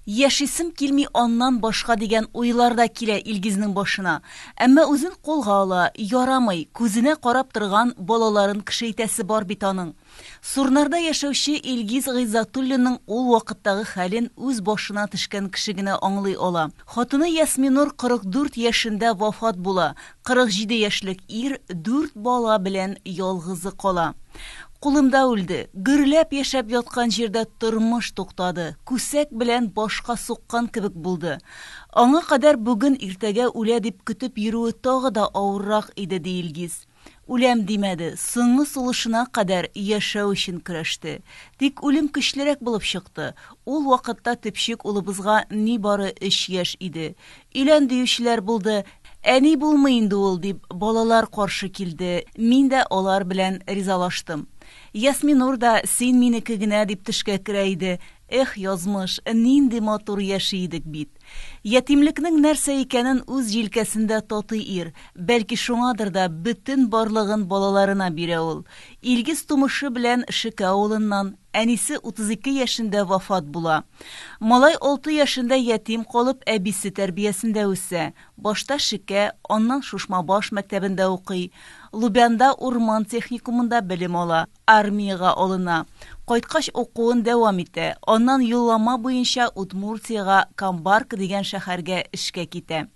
Яшисем килми аннан башка дигән уйлар да килә Илгизнең башына. Әмма үзен кулга ала, ярамый, күзенә карап торган балаларын кешейтәсе бар бит аның. Сурнарда яшәүче Илгиз Гыйззатуллинның ул вакыттагы хәлен үз башына төшкән кеше генә аңлый ала. Хатыны Ясминур 44 яшендә вафат була. 47 яшьлек ир дүрт бала белән ялгызы кала. Кулымда үлде. Гөрләп яшәп яткан җирдә тормыш туктады. Күсәк белән башка суккан кебек булды. Аңа кадәр бүген-иртәгә үлә дип көтеп йөрүе тагы да авыррак иде, ди Илгиз. Үләм димәде, соңгы сулышына кадәр яшәү өчен көрәште. Тик үлем көчлерәк булып чыкты. Ул вакытта төпчек улыбызга нибары өч яшь иде. Өйлән диючеләр булды, әни булмый инде ул, дип балалар каршы килде, мин дә алар белән ризалаштым. Ясминур да син минеке генә дип төшкә керә иде. Эх, язмыш, нинди матур яши идек бит. Ятимлекнең нәрсә икәнен үз җилкәсендә татый ир, бәлки шуңадыр да бөтен барлыгын балаларына бирә ул. Илгиз тумышы белән Шеке авылыннан, Әнисе 32 яшендә вафат була. Малай алты яшендә ятим калып, әбисе тәрбиясендә үсә. Башта Шекә, аннан Шушмабаш мәктәбендә укый. Лубянда урман техникумында белем ала. Армиягә алына. Кайткач укуын дәвам итә. Аннан юллама буенча Удмуртиягә Камбарка дигән шәхәргә эшкә китә.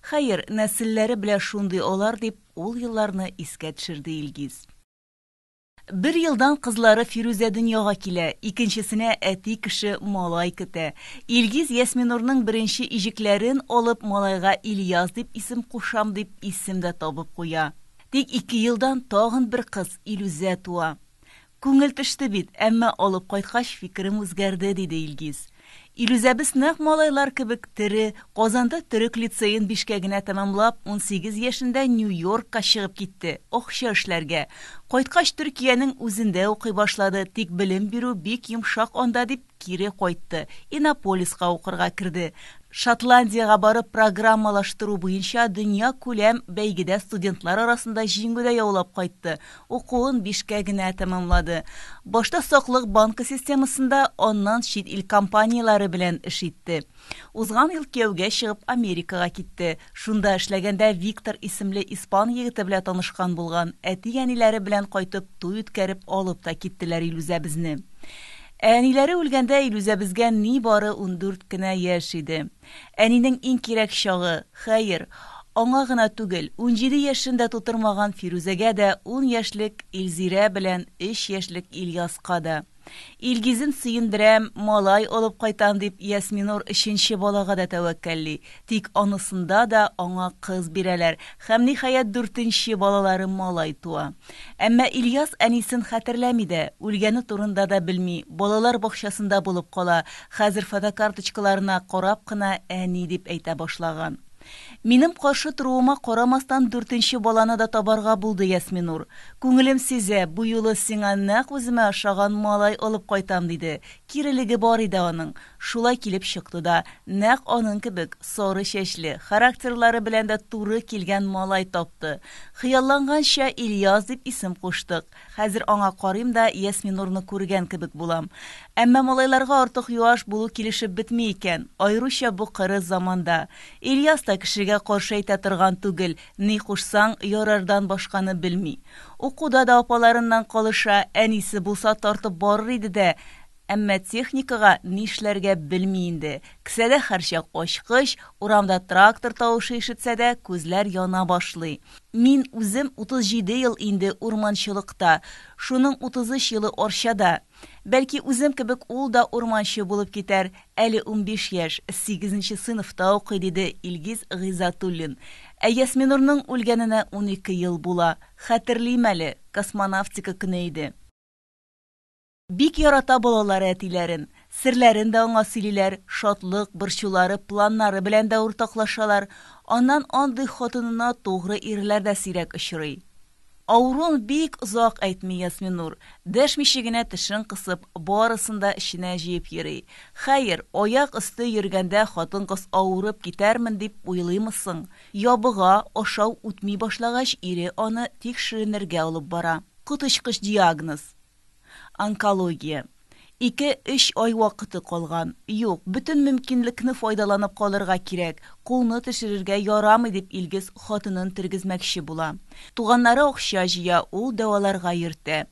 Хәер, нәселләре белә шундый алар, дип, ул елларны искә төшерде Илгиз. Бер елдан кызлары Фирүзә дөньяга килә, икенчесенә әти кеше малай көтә. Илгиз Ясминурның беренче иҗекләрен алып, малайга Ильяс дип исем кушам, дип, исем дә табып куя. Тик ике елдан тагын бер кыз, Илүзә туа. Күңел төште бит, әмма алып кайткач, фикерем үзгәрде, диде Илгиз. Илүзәбез нәкъ малайлар кебек тере, Казанда төрек лицеен бишкәгенә тәмамлап, унсигез яшендә Нью-Йоркка чыгып китте, акча эшләргә. Кайткач, Төркиянең үзендә укый башлады, тик белем бирү бик йомшак анда, дип, Кире кайтты, Иннополиска укырга керде. Шотландиягә барып программалаштыру буенча дөньякүләм бәйгедә студентлар арасында җиңү дә яулап кайтты, укуын бишкә генә тәмамлады. Башта саклык банкы системасында, аннан чит ил компанияләре белән эш итте. Узган ел кияүгә чыгып Америкага китте. Шунда эшләгәндә Виктор исемле испан егете белә танышкан булган, әти-әниләре белән кайтып туй үткәреп алып та киттеләр Илүзәбезне. Ә әниләре үлгәндә Илүзәбезгә нибары ундүрт кенә яшь иде. Әнинең иң кирәк чагы, хәер, аңа гына түгел, унҗиде яшен дә тутырмаган Фирүзәгә дә, ун яшьлек Илзирә белән өч яшьлек Ильяска да. Илгизен сөендерәм, малай алып кайтам дип Ясминур өченче балага да тәвәккәлли, Тик анысында да аңа кыз бирәләр һәм, ниһаять, дүртенче балалары малай туа. Әмма Ильяс әнисен хәтерләми дә, үлгәне турында да белми, балалар бакчасында булып кала, хәзер фотокарточкаларына карап кына әни дип әйтә башлаган. Минем каршы торуыма карамастан дүртенче баланы да табарга булды Ясминур. Күңелем сизә, бу юлы сиңа нәкъ үземә ошаган малай алып кайтам, диде. Кирелеге бар иде аның. Шулай килеп чыкты да, нәкъ аның кебек сары чәчле, характерлары белән дә туры килгән малай тапты. Хыялланганча Ильяс дип исем куштык. Хәзер аңа карыйм да Ясминурны күргән кебек булам. Әмма малайларга артык юаш булу килешеп бетми икән, аеруча бу кырыс заманда. Ильяс та кешегә каршы әйтә торган түгел, ни кушсаң, ярардан башканы белми. Укуда да апаларыннан калыша, әнисе булса тартып барыр иде дә, Әмма техникага нишләргә белми инде. Кесәдә һәрчак ачкыч, урамда трактор тавышы ишетсә дә, күзләр яна башлый. Мин үзем 37 ел инде урманчылыкта, шуның 33 елы Арчада. Бәлки үзем кебек ул да урманчы булып китәр, әле унбиш яшь, сигезенче сыйныфта укый, диде Илгиз Гыйзатуллин. Ә Ясминурның үлгәненә унике ел була. Хәтерлим әле, космонавтика көне иде. Бик ярата балалары әтиләрен. Серләрен дә аңа сөйлиләр, шатлык, борчулары, планнары белән дә уртаклашалар. Аннан андый хатынына тугры ирләр дә сирәк очрый. Авыруын бик озак әйтми Ясминур, дәшмичә генә тешен кысып, барысын да эченә җыеп йөри. Хәер, аяк өсте йөргәндә хатын-кыз авырып китәрмен дип уйлыймы соң? Ябыга, ашау үтми башлагач, ире аны тикшеренергә алып бара. Коточкыч диагноз. Онкология. Ике-өч ай вакыты калган. Юк, бөтен мөмкинлекне файдаланып калырга кирәк, кулны төшерергә ярамый, дип Илгиз хатынын тергезмәкче була. Туганнары акча җыя, ул дәваларга йөртә.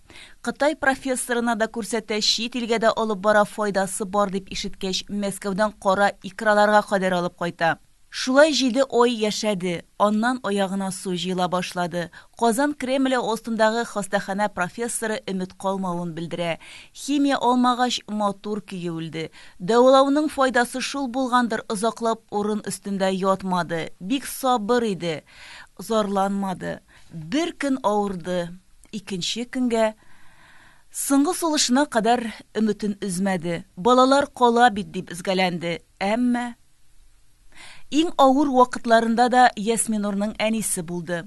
Кытай профессорына да күрсәтә, чит илгә дә алып бара, файдасы бар дип ишеткәч, Мәскәүдән кара икраларга кадәр алып кайта. Шулай җиде ай яшәде, аннан аягына су җыела башлады. Казан Кремле астындагы хастаханә профессоры өмет калмавын белдерә. Химия алмагач, матур көе үлде. Дәвалауның файдасы шул булгандыр, озаклап урын өстендә ятмады. Бик сабыр иде. Зарланмады. Бер көн авырды. Икенче көнгә. Соңгы сулышына кадәр өметен өзмәде. Балалар кала бит дип өзгәләнде. Әмма Иң авыр вакытларында да Ясминурның әнисе булды.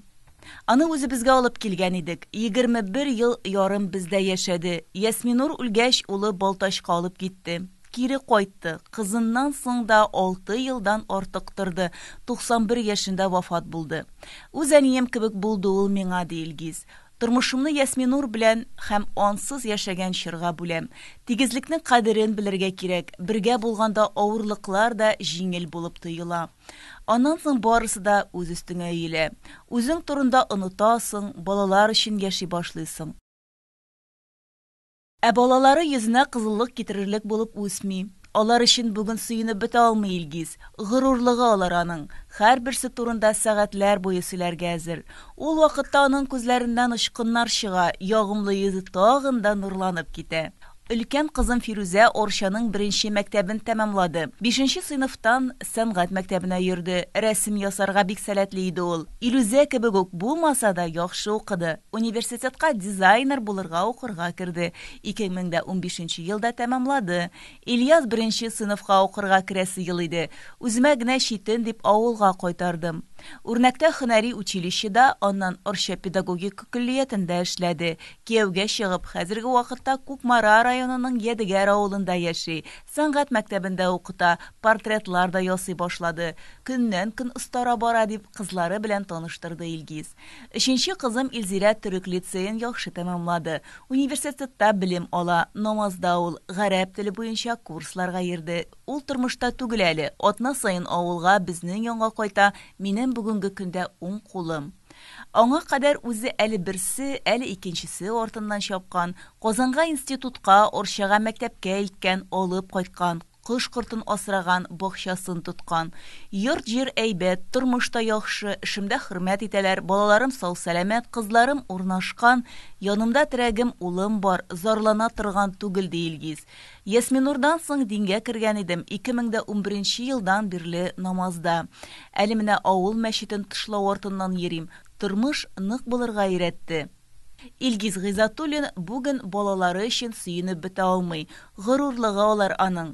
Аны үзебезгә алып килгән идек. 21 ел ярым бездә яшәде. Ясминур үлгәч, улы Балтачка алып китте. Кире кайтты. Кызыннан соң да алты елдан артык торды, 91 яшендә вафат булды. Үз әнием кебек булды ул миңа, ди Илгиз. Тормышымны Ясминур белән һәм ансыз яшәгән чорга бүләм. Тигезлекнең кадерен белергә кирәк, бергә булганда авырлыклар да җиңел булып тоела. Аннан соң барысы да үз өстеңә өелә. Үзең турында онытасың, балалар өчен яши башлыйсың. Ә балалары йөзенә кызыллык китерерлек булып үсми. Алар өчен бүген сөенеп бетә алмый Илгиз. Горурлыгы алар аның. Һәрберсе турында сәгатьләр буе сөйләргә әзер. Ул вакытта аның күзләреннән очкыннар чыга, ягымлы йөзе тагын да нурланып китә. Өлкән кызым Фирүзә Арчаның беренче мәктәбен тәмамлады. Бишенче сыйныфтан сәнгать мәктәбенә йөрде. Рәсем ясарга бик сәләтле иде ул. Илүзә кебек үк булмаса да, яхшы укыды. Университетка дизайнер булырга укырга керде. Ике мең дә унбишенче елда тәмамлады. Ильяс беренче сыйныфка укырга керәсе ел иде. Үземә генә читен дип авылга кайтардым. Үрнәктә һөнәри училищеда, аннан Орча педагогика көллиятендә эшләде. Кияүгә чыгып, хәзерге вакытта Кукмара районының Ядегәр авылында яши. Сәнгать мәктәбендә укыта, портретлар да ясый башлады. Көннән-көн остара бара, дип, кызлары белән таныштырды Илгиз. Өченче кызым Илзирә төрек лицеен яхшы тәмамлады. Университетта белем ала. Намазда ул. Гарәп теле буенча курсларга йөрде. Ул тормышта түгел әле. Атна саен авылга, безнең янга кайта, минем бүгенге көндә уң кулым. Аңа кадәр үзе әле берсе, әле икенчесе артыннан чапкан, Казанга институтка, Орчага мәктәпкә илткән, алып кайткан, кош кортын асраган, бакчасын тоткан. Йорт-җир әйбәт, тормыш та яхшы, эшемдә хөрмәт итәләр, балаларым сау-сәламәт, кызларым урнашкан, янымда терәгем, улым бар, зарлана торган түгел, ди Илгиз. Ясминурдан соң дингә кергән идем, 2011 нче елдан бирле намазда. Әле менә авыл мәчетен тышлау артыннан йөрим. Тормыш нык булырга өйрәтте. Илгиз Гыйзатуллин бүген балалары өчен сөенеп бетә алмый. Горурлыгы алар аның.